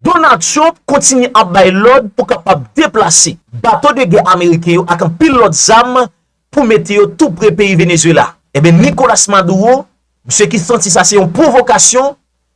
Donald Trump kontinye ap bay lòd pou kapab deplase bato de gè ameriken yo ak anpil lòt zam pou mete yo tou pre peyi Venezuela. Ebyen Nicolas Maduro, misye ki santi sa se yon pwovokasyon,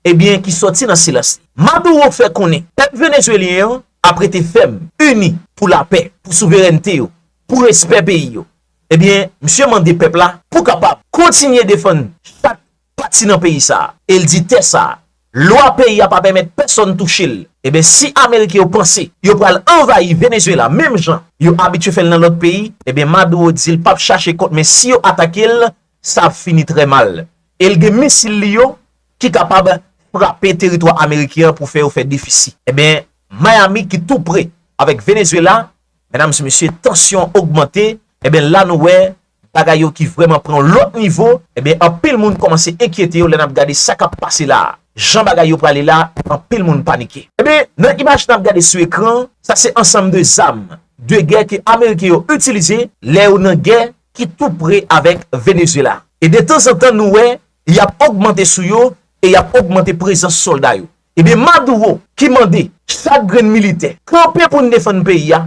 ebyen ki sòti nan silans li. Maduro fè konnen pèp Venezuelyen an ap rete fèm, ini pou lapè, pou souverènte yo, pou respè peyi yo. Ebyen misye mande pèp la pou kapab kontinye defann chak pati nan peyi sa a, e l di tè sa a, lwa peyi a pa pèmèt pèsonn touche l, eben si ameriken yo panse yo pral anvayi Venezuela menm jan yo abitye fè l nan lòt peyi, eben Maduro di l pap chache kont men si yo atake l, sa ap fini trè mal. E l gen misil li yo ki kapab frape teritwa ameriken an pou fè yo fè defisi. Eben Miami ki tou pre avèk Venezuela, medam e mesye tansyon ogmante, eben la nou wè Bagay yo ki vrèman pran yon lòt nivo, enben anpil moun kòmanse enkyete yo lè n ap gade sa k ap pase la a. Jan bagay yo prale la, anpil moun panike. Enben, nan imaj n ap gade sou ekran an, sa se ansanm de zam de gè ke Ameriken yo itilize lè yo nan gè ki tou pre avèk Venezyela. E de tanzantan nou wè y ap ogmante sou yo e y ap ogmante prezans sòlda yo. Enben Maduro ki mande chak grenn militè kanpe pou n defann peyi a,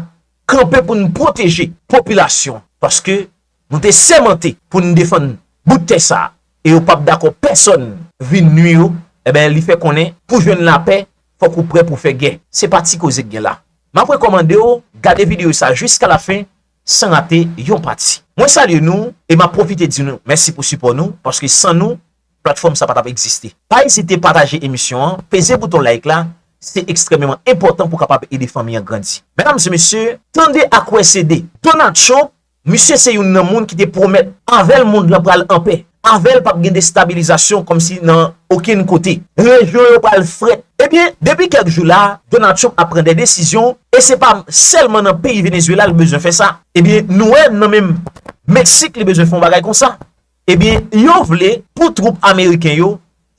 kanpe pou n pwoteje popilasyon paske nou te sèmante pou n defann bout tè sa e yo pap dakò pèsòn vin nwi yo enben li fè konnen pou jwenn lapè fòk ou prè pou fè gè se pa ti koze k gen la map rekòmande w gade videyo sa jiska la fen san rate yon pati mwen salye nou e map pwofite di nou mèsi pou sipò nou paske san nou. platfòm sa pa tap egziste. Pa ezite pataje emisyon an, peze bouton like la, se ekstrèmeman enpòtan pou kapab ede fanmi an grandi. Medam e mesye, tande ak wè se 2. Donald Trump, misye se youn nan moun ki te pwomèt, avèl mond lan pral an pè, avèl pap gen destabilizasyon kòmsi nan okenn kote, rejyon yo pral frèt. Ebyen, depi kèk jou la, Donald Trump ap pran 2 desizyon, e se pa sèlman nan peyi Venezuela li bezwen fè sa, ebyen nou wè nan menm Meksik li bezwen fè yon bagay konsa. Ebyen yo vle pou twoup ameriken yo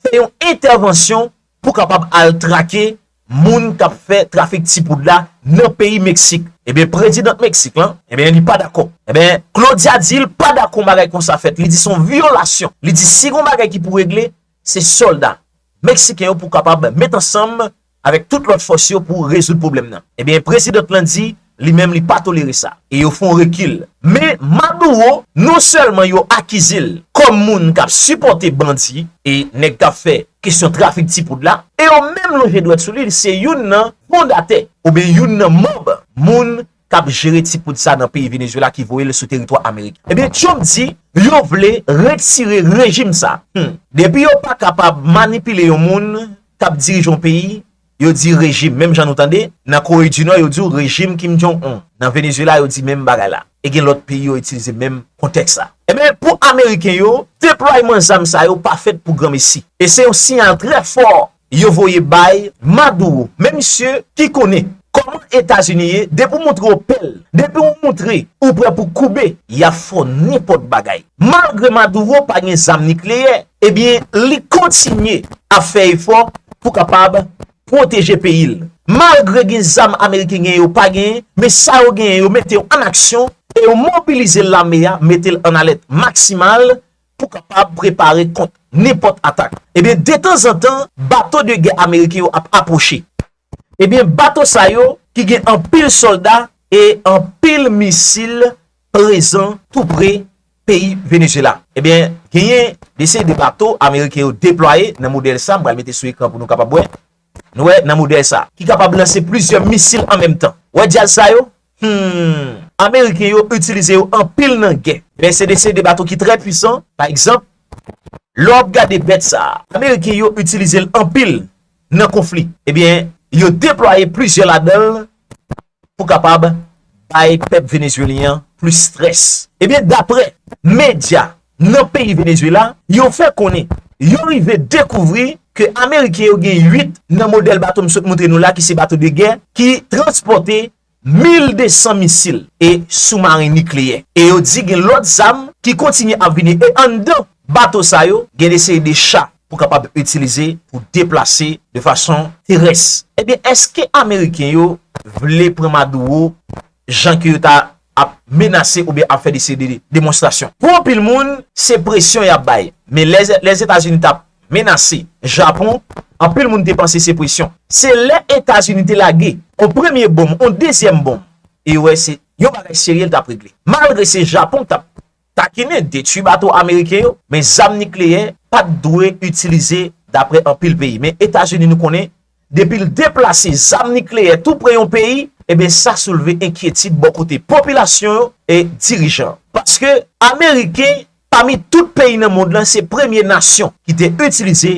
fè yon entèvansyon pou kapab al trake moun kap fè trafik ti poud la nan peyi Meksik. Ebyen prezidant Meksik lan, ebyen li pa dakò. Ebyen Claudia di l pa dakò bagay konsa fèt, li di son vyolasyon. Li di si gon bagay ki pou regle, se sòlda Meksiken yo pou kapab met ansanm avèk tout lòt fòs yo pou rezoud pwoblèm nan. Ebyen president lan di li menm li pa tolere sa e yo fon rekil. Men Maduro non sèlman yo akize l kòm moun k ap sipòte bandi e nèg k ap fè kesyon trafik ti poud la e yo menm lonje dwèt sou li, li se youn nan fondatè oubyen youn nan manb moun kap jere ti poud sa nan peyi Venezuela ki voye l sou teritwa Ameriken. Ebyen Trump di yo vle retire rejim sa. Humm. Depi yo pa kapab manipile yon moun kap dirije yon peyi, yo di rejim. Menm jan nou tande, nan Kore di Nò yo di w rejim Kim Jong Un. Nan Venezuela yo di menm bagay la. E gen lòt peyi yo itilize menm kontèks la. Ebyen pou Ameriken yo, deplwayman zam sa yo pa fèt pou granmesi. E se yon siyal trè fò yo voye bay Maduro men misye ki konnen kòman etazini ye depi w moutre w pè l depi w moutre ou prè pou koube ya fè w nenpòt bagay malgre Maduro pa gen zam nikleyè ebyen li kontinye ap fè efò pou kapab pwoteje peyi l malgre gen zam ameriken genyen yo pa genyen men sa yo genyen yo mete yo an aksyon e yo mobilize lame a mete l an alèt maksimal pou kapab prepare kont nenpòt atak. Ebyen detanzantan bato de gè ameriken yo ap apwoche. Ebyen bato sa yo ki gen anpil sòlda e anpil misil prezan tou pre peyi Venezyela. Ebyen genyen de seri de bato ameriken yo deplwaye nan modèl sa m pral mete sou ekran pou nou kapab wè. Nou wè nan modèl sa. Ki kapab lanse plizyè misil an menm tan. Wè djaz sa yo? Humm. Ameriken yo itilize yo anpil nan gè. Men se de se de bato ki trè pwisan. Pa egzanp, lè w ap gade bèt sa. Ameriken yo itilize l anpil nan konfli. Ebyen, yo deplwaye plizyè ladan l pou kapab bay pèp Venezuelyen an plis strès. Ebyen daprè medya nan peyi Venezuela yo fè konnen yo rive dekouvri ke Ameriken yo gen 8 nan modèl bato m sot moutre nou la ki se bato de gè ki transpòte 1200 misil e soumaren nikleyè. E yo di gen lòt zam ki kontinye ap vini e anndan bato sa yo gen de seri de cha pou kapab itilize pou deplase de fason terès. Ebyen eske ameriken yo vle pran Maduro jan ke yo ta ap menase oubyen ap fè dese de demonstrasyon? Pou anpil moun se presyon yap bay, men lè Lèzetazini tap menase Japon anpil moun te panse se presyon. Se lè Etazini te lage on premye bonm, on dezyèm bonm e yo wè se yon bagay serye li tap regle. Malgre se Japon ki tap Takine detwi bato ameriken yo, men zam nikleyè pat dwe itilize dapre anpil peyi. Men Etazini nou konnen depi l deplase zam nikleyè tou pre yon peyi, eben sa soulve enkyetid bò kote popilasyon yo e dirijan. Paske ameriken pami tout peyi nan mond lan se premye nasyon ki te itilize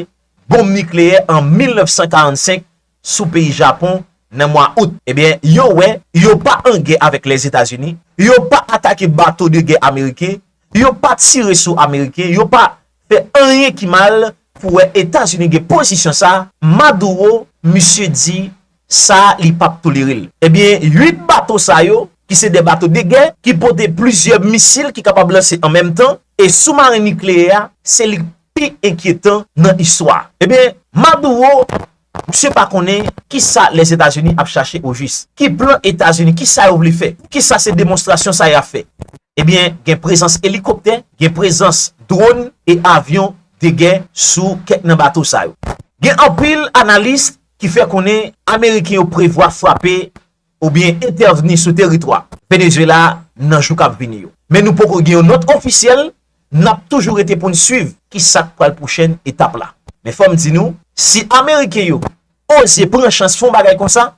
bonm nikleyè an 1945 sou peyi Japon nan mwa Out. Ebyen, yo wè, yo pa an gè avèk Lèzetazini, yo pa atake bato de gè ameriken, yo pa tire sou ameriken, yo pa fè anyen ki mal pou wè Etazini gen pozisyon sa, Maduro, misye di sa li pap tolere l. Ebyen, 8 bato sa yo, ki se 2 bato de gè, ki pote plizyè misil ki kapab lanse an menm tan, e soumaren nikleyè a, se li k pi enkyetan nan istwa. Ebyen, Maduro Misye pa konnen kisa Lèzetazini ap chache ojis? Ki plan Etazini? Kisa yo vle fè? Poukisa se demonstrasyon sa ya fè? Ebyen, gen prezans elikoptè, gen prezans dronn e avyon de gè sou kèk nan bato sa yo. Gen anpil analis ki fè konnen Ameriken yo prevwa frape oubyen entèvni sou teritwa Venezuela nan jou kap vini yo. Men nou poko gen yon nòt ofisyèl, nap toujou rete poun swiv kisak pral pwochèn etap la. Men fòm di nou, si ameriken yo oze pran chans fon bagay konsa,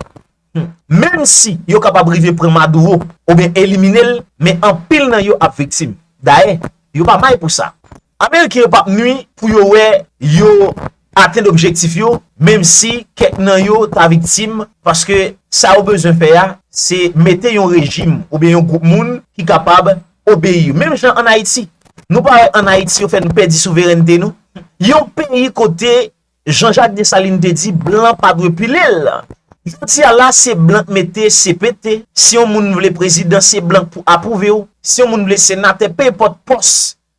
hum, menm si yo kapab rive pran Maduro oubyen eliminel, men anpil nan yo ap viktim. Dayè, yo pa may pou sa. Ameriken yo pap nwi pou yo wè yo atenn objektif yo, menm si kèk nan yo ta viktim, paske sa yo bezwen fè a, se mete yon rejim oubyen yon gwoup moun ki kapab obeyi yo. Menm jan an Ayiti. Nou pa wè an Ayiti yo fè nou pèdi souverènte nou? Yon peyi kote Jean Jacques Dessalines te di blan pa dwe pile l. Jodi a la se blan k mete cpt, si yon moun vle prezidan se blan k pou apwouve w, si yon moun vle senatè, penenpòt pòs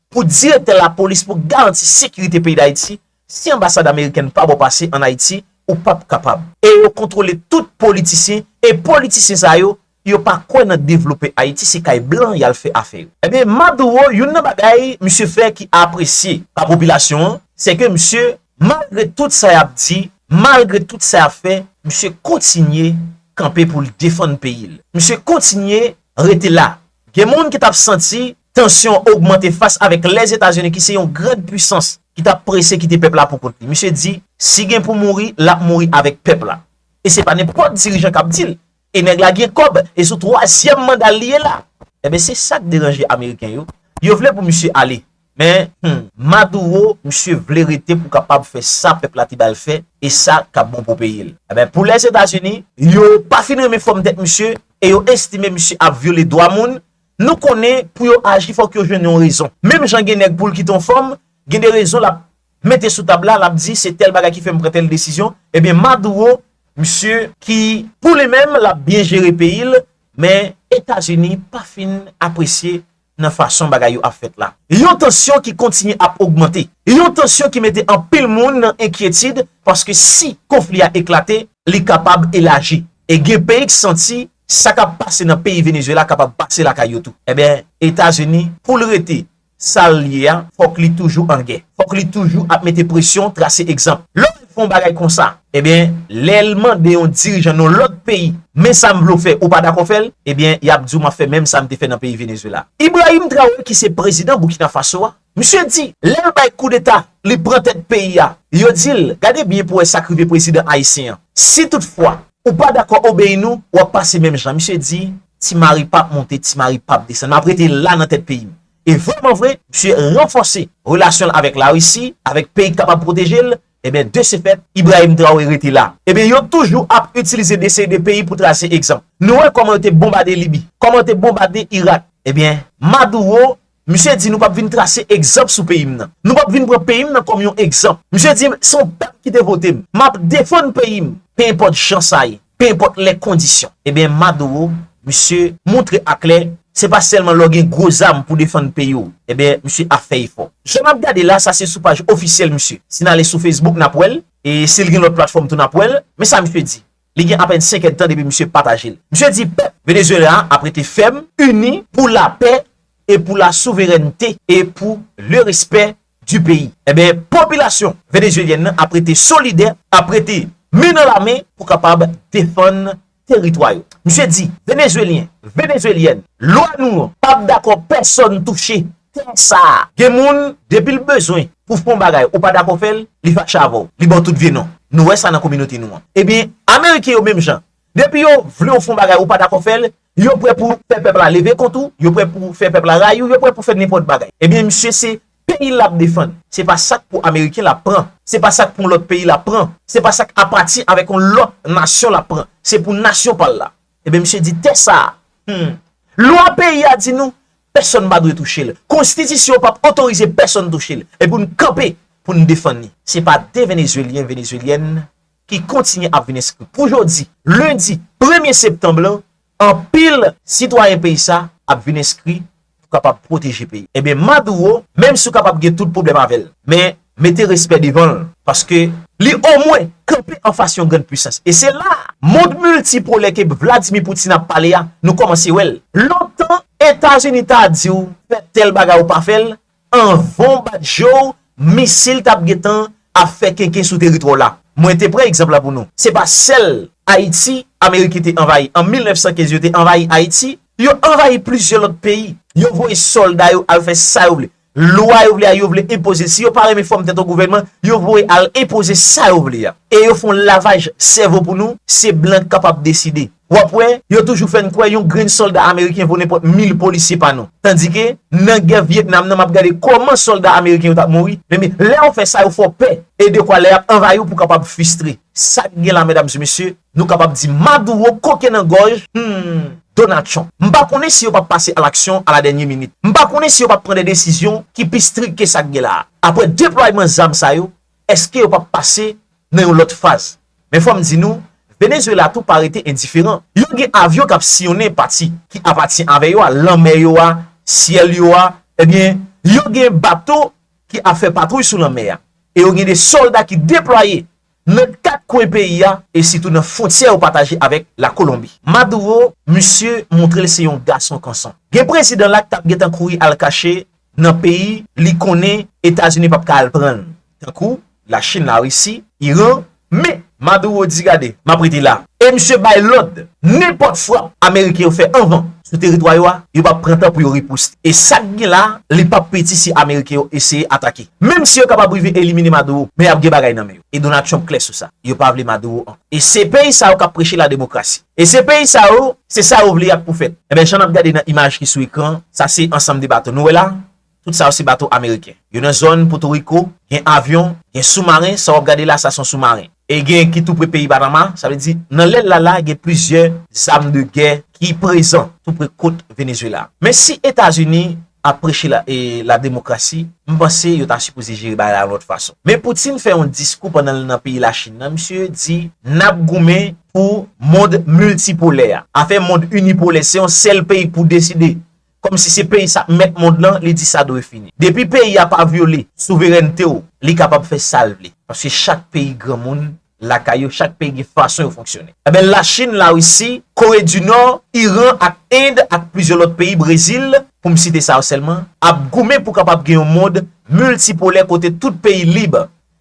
Pou direktè lapolis pou garanti sekirite peyi Dayiti, si anbasad amerikèn pa bo pase an Ayiti, ou pap kapab. E yo kontwole tout politisyen, e politisyen sa yo, yo pa kwè nan devlope Ayiti, se kay blan yal fè afè yo. Ebyen Maduro youn nan bagay misye fè ki apresye pa popilasyon an, se ke misye malgre tout sa yap di, malgre tout sa yap fè, misye kontinye kanpe poul defann peyi l. Misye kontinye rete la, Gen moun ki t ap santi tansyon ogmante fas avèk Lèzetazini ki se yon grand pwisans ki t ap prese kite pèp la pou kont li. Misye di, si gen pou mouri, l ap mouri avèk pèp la. E se pa nenpòt dirijan k ap di l. E nèg la gen kòb, e sou twazyèm manda l li ye la. Enben se sa k deranje ameriken yo, yo vle pou misye ale. Men humm maduro misye vle rete pou kapab fè sa pèp la te bal fè e sa kap bon pou peyil. Enben pou les Etats Unis. Yo pa fin renmen fòm tèt misye e yo estime misye ap vyole dwa moun, nou konnen pou yo aji fòk yo jwenn yon rezon. Menm jan gen nèg poul kite yon fòm, gen de rezon lap mete sou tab la, lap di se tèl bagay ki fèm pran tèl desizyon, enben maduro misye ki. Pou li menm lap byen jere peyil, men Etats Unis pa fin apresye nan fason bagay yo ap fèt la. Yon tansyon ki kontinye ap ogmante. Yon tansyon ki mete anpil moun nan enkyetid paske si konfli a eklate, li kapab elaji e gen peyi k santi sa k ap pase nan peyi Venezuela kapab pase lakay yo tou. Enben, Etazini pou l rete sa l ye a, fòk li toujou an gè. Fòk li toujou ap mete presyon, trase egzanp. Lè w fè yon bagay konsa, Ebyen lel mande yon dirijan non lot peyi men sam vle w fè ou pa dakò fèl ebyen yap diw map fè menm sam te fè nan peyi Venezuela. Ibrahim Traoré ki se prezidan Burkina Faso a, misye di lèl bay koudeta li pran tèt peyi a, yo dil gade byen pou wè sak rive prezidan ayisyen an si tout fwa ou pa dakò obeyi nou wap pase menm jan misye di ti mari pap monte ti mari pap desann map rete la nan tèt peyim e vreman vre misye ranfòse relasyonl avèk larisi avèk peyi k kapab pwotejel Ebyen de se fèt, Ibrahim Traoré rete la. Ebyen yo toujou ap itilize desey de peyi pou trase egzanp. Nou wè kòman yo te bonbade Libi, kòman yo te bonbade Irak. Ebyen Maduro, misye di nou pap vin trase egzanp sou peyi m nan. Nou pap vin pran peyi m nan kòm yon egzanp. Misye di se yon pèp ki te vote m. Map defann peyi m, pe enpòt jan sa ye. penenpòt lè kondisyon. Ebyen Maduro, misye moutre aklè, se pa sèlman lè w gen gwo zam pou defann peyi w, ebyen misye ap fè efò. Jan map gade la, sa se sou paj ofisyèl misye. Si n ale sou Facebook nap wè l, e si l gen lòt platfòm tou nap wè l. Men sa misye di. Li gen apèn 5 èdtan depi misye pataje l. Misye di pèp Venezuela a ap rete fèm, ini, pou lapè e pou la souverènte e pou le respè du pays. Enben, popilasyon venezuelyèn nan ap rete solidè, ap rete men nan la men pou kapab defann teritwa yo. Misye di, Venezuelyen, Venezuelyèn, lwa nou an pa p dakò pèsòn touche tè sa a. Gen moun, depi l bezwen pou fè yon bagay ou pa dakò fè l, li fache avè w, li ba w tout vye non. Nou wè sa nan kominote nou an. Ebyen, ameriken yo menm jan. Depi yo vle w fè yon bagay ou pa dakò fè l, Yo prè pou fè pèp la leve kont ou, yo prè pou fè pèp la rayi ou, yo prè pou fè nenpòt bagay. Ebyen misye se peyi l lap defann. Se pa sak pou ameriken lap pran. Se pa sak pou yon lòt peyi lap pran. Se pa sak apati avèk yon lòt nasyon lap pran. Se pou nasyon pa l la. Ebyen misye di tè sa a, humm, lwa peyi a di nou pèsòn pa dwe touche l. Konstitisyon pap otorize pèsòn touche l. E pou n kanpe pou n defann li. Se pa de venezuelyen, venezuelyèn ki kontinye ap vin enskri pou jodi lendi premye septanb lan, anpil sitwayen peyi sa ap vin enskri pou kapab pwoteje peyi. Enben Maduro, menm si w kapab gen tout pwoblèm avè l, men mete respè devan l, paske li omwen kanpe anfas yon grann pwisans. E se la a, mond miltipolè ke Vladimir Poutine ap pale a, nou kòmanse wè l. Lontan Etazini ta di w fè tèl bagay ou pa fè l, Anvan w bat je w, misil t ap gentan ap fè kenken sou teritwa w la. Mwen te pran egzanp la pou nou. Se pa sèl Ayiti Ameriken te anvayi. An 1915, yo te anvayi Ayiti. Yo anvayi plizyè lòt peyi. Yo voye sòlda yo al fè sa yo vle. Lwa yo vle a, yo vle enpoze l. Si yo pa renmen fòm tèt yon gouvènman, yo voye al enpoze sa yo vle a. E yo fè yon lavaj sèvo pou nou, se blan k kapab deside. W ap wè, yo toujou fè n kwè yon grenn sòlda ameriken vo nenpòt mil polisye pa nou. Tandike, nan gè Vyetnam nan m ap gade kòman sòlda ameriken yo t ap mouri, ebyen, lè yo fè sa yo fè w pè, e dekwa lè y ap anvayi w pou w kapab fistre. Sa k gen la medam e mesye, nou kapab di Maduro koke nan gòj, humm, Donald Trump. M pa konnen si yo p ap pase alaksyon a la dènye minit. M pa konnen si yo p ap pran de desizyon ki pi strik ke sa k gen la a. Apre deplwayman zam sa yo, Eske yo pap pase nan yon lòt faz? Men fòm di nou, Venezuela tou pa rete endiferan. Yo gen avyon kap siyonnen pati ki apatyen avè yo a, lanmè yo a, syèl yo a, ebyen yo gen bato ki ap fè patwouy sou lanmè a, e yo gen de sòlda ki deplwaye nan 4 kwen peyi a, e sitou nan fwontyè yo pataje avèk la Kolonbi. Maduro, misye montre l se yon gason kanson. Gen prezidan la k tap gentan kouri al kache nan peyi li konnen Etazini pap ka al pran l tankou Lachin, Larisi, Iran men Maduro di gade map rete la e misye bay lòd nenpòt frap Ameriken yo fè anvan sou teritwa yo a yo pap pran tan pou yo riposte e sak gen la li pap piti si Ameriken yo eseye atake menm si yo kapab rive elimine Maduro men yap gen bagay nan men yo e Donald Trump klè sou sa yo pa vle Maduro ankò e se peyi sa yo kap preche lademokrasi. E se peyi sa yo, se sa yo vle y ap pou fèt. Enben, jan n ap gade nan imaj ki sou ekran an, sa se ansanm de bato nou wè la a, tout sa yo se bato ameriken. Yo nan zòn Potoriko, gen avyon, gen soumaren, sa w ap gade la a sa se yon soumaren. E gen ki tou pre peyi Panama, sa vle di nan lè l la la a gen plizyè zam de gè ki prezan tou pre kot Venezwela. Men si Etazini ap preche la demokrasi, m panse yo ta sipoze jere bagay la yon lòt fason. Men Putin fè yon diskou pandan l nan peyi Lachin nan, misye di n ap goumen pou mond miltipolè a. Afè mond inipolè, se yon sèl peyi k pou deside, kòm si se peyi sa k mèt mond lan, li di sa dwe fini. Depi peyi a pa vyole souverènte w, li kapab fè sa l vle, paske chak peyi granmoun lakay yo, chak peyi gen fason yo fonksyone. Enben Lachin, Larisi, Kore di Nò, Iran ak End ak plizyè lòt peyi, Brezil, pou m site sa yo sèlman, ap goumen pou kapab gen yon mond miltipolè kote tout peyi lib.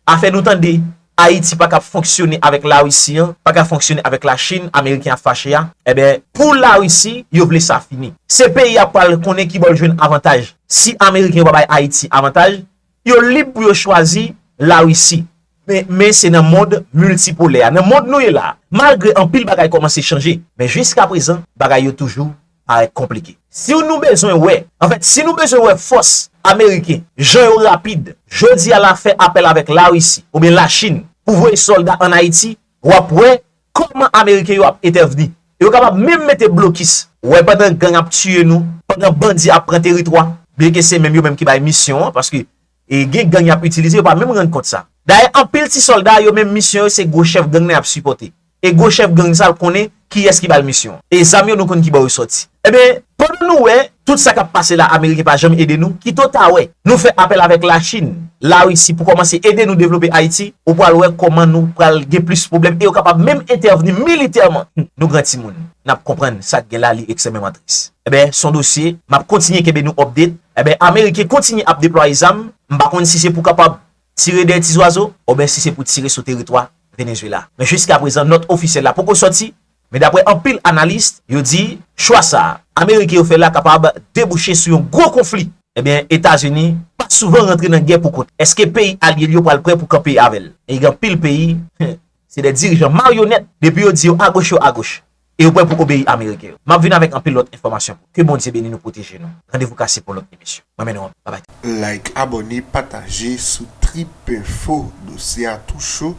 Afè nou tande, Ayiti pa kab fonksyone avèk Larisi an, pa ka fonksyone avèk Lachin, Ameriken ap fache a, enben, pou Larisi, yo vle sa fini. Se peyi a pral konnen ki bò l jwenn avantaj. Si Ameriken yo pa bay Ayiti avantaj, Yo lib pou yo chwazi Larisi. Men se nan mond miltipolè a, nan mond nou ye la a, malgre anpil bagay kòmanse chanje, men jiskaprezan bagay yo toujou parèt konplike. Si w nou bezwen wè, anfèt, si nou bezwen wè fòs ameriken, jan yo rapid, jodi a la fè apèl avèk Larisi oubyen Lachin pou voye sòlda an Ayiti, w ap wè Koman ameriken yo ap entèvni. Yo kapab menm mete blokis. Wè pandan gang ap tiye nou. Pandan bandi ap pran teritwa. Byen ke se menm yo menm ki bay misyon an paske gen gang yap itilize yo pa menm rann kont sa. Dayè anpil ti solda yo menm misyon yo se gwo chèf gang nan yap sipote. E gwo chèf gang sa l konnen kiyès ki bal misyon an. E zam yo nou konn kibò yo soti. Ebyen pandan nou wè Tout sa kap pase la ameriken pa janm ede nou kito ta wè nou fè apèl avèk la chine la russie pou kòmanse ede nou devlope ayiti ou pwal wè kòman nou pral gen plis pwoblèm e yo kapab menm entèvni militèman nou gran timoun nap konprann sak gen la li eksememan tris ebyen son dosye map kontinye kenbe nou update ebyen ameriken kontinye ap deplwaye zam m pa konn si se pou kapab tire dèyè ti zwazo obyen si se pou tire sou teritwa Venezuela men jiska prezan nòt ofisyèl la poko sòti Men dapre anpil analis, yo di chwa sa a ameriken yo fè la kapab debouche sou yon gwo konfli. Ebyen Etazini pa souvan rantre nan gè pou kont, eske peyi alye l yo pral prè pou kanpe avè l? E gen anpil peyi, hum, se de dirijan maryonèt, depi yo di yo agoch yo agoch, e yo prè pou obeyi ameriken yo. M ap vin avèk anpil lòt enfòmasyon pou. Ke Bondye beni nou proteje nou. Randevou kase pou lòt emisyon. Mwen mennen w anpil. Babay. Like abone pataje sou tripinfo dosye a tou cho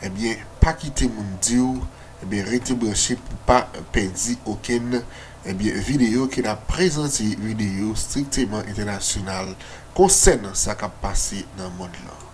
ebyen pa kite moun diw ebyen rete branche pou pa pèdi okenn ebyen video ke nap prezante video strikteman entènasyonal konsènan sa kap pase nan mond lan.